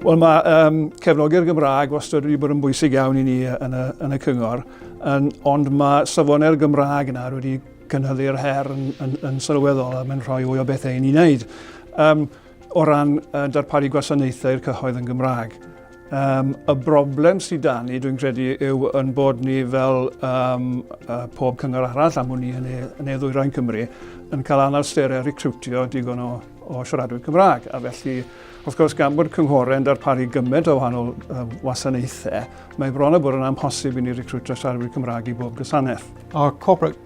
Wel mae um, cefnogi'r Gymraeg wastad wedi bod yn bwysig iawn i ni yn y, yn y cyngor, yn, ond mae safonau'r Gymraeg yna wedi cynhyddu'r her yn, yn, yn sylweddol a mae'n rhoi fwy o bethau i ni wneud. Um, o ran uh, darparu gwasanaethau i'r cyhoedd yn Gymraeg. Um, y broblem sydd da ni, dwi'n credu, yw yn bod ni fel um, uh, pob cyngor arall am hwn i yn ei, yn ei ddwyrain Cymru yn cael anawsterau recrwtio digon o, o siaradwyr Cymraeg. A felly, wrth gwrs, gan bod cynghorau yn darparu gymaint o wahanol uh, wasanaethau, mae bron o bod yn amhosib i ni recrwtio siaradwyr Cymraeg i bob gwasanaeth. Our corporate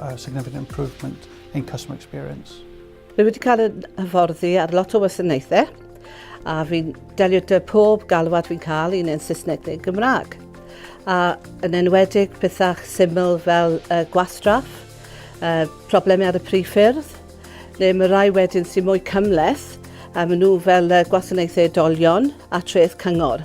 a significant improvement in customer experience. Rwy wedi cael yn hyfforddi ar lot o wasanaethau a fi'n delio dy pob galwad fi'n cael un yn Saesneg neu'n Gymraeg. A yn enwedig pethau syml fel uh, gwastraff, uh, problemau ar y prif ffyrdd, neu mae rai wedyn sy'n mwy cymleth a maen nhw fel uh, gwasanaethau edolion a treth cyngor.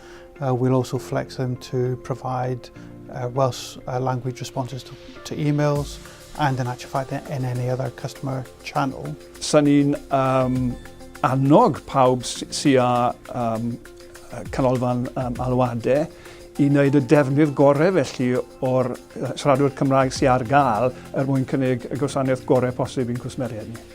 Uh, we'll also flex them to provide uh, Welsh uh, language responses to, to emails and in actual fact in any other customer channel. Sa'n ni'n um, annog pawb sy â um, canolfan um, alwadau i wneud y defnydd gorau felly o'r siaradwyr Cymraeg sy'n ar gael er mwyn cynnig y gwasanaeth gorau posib i'n cwsmeriaid ni.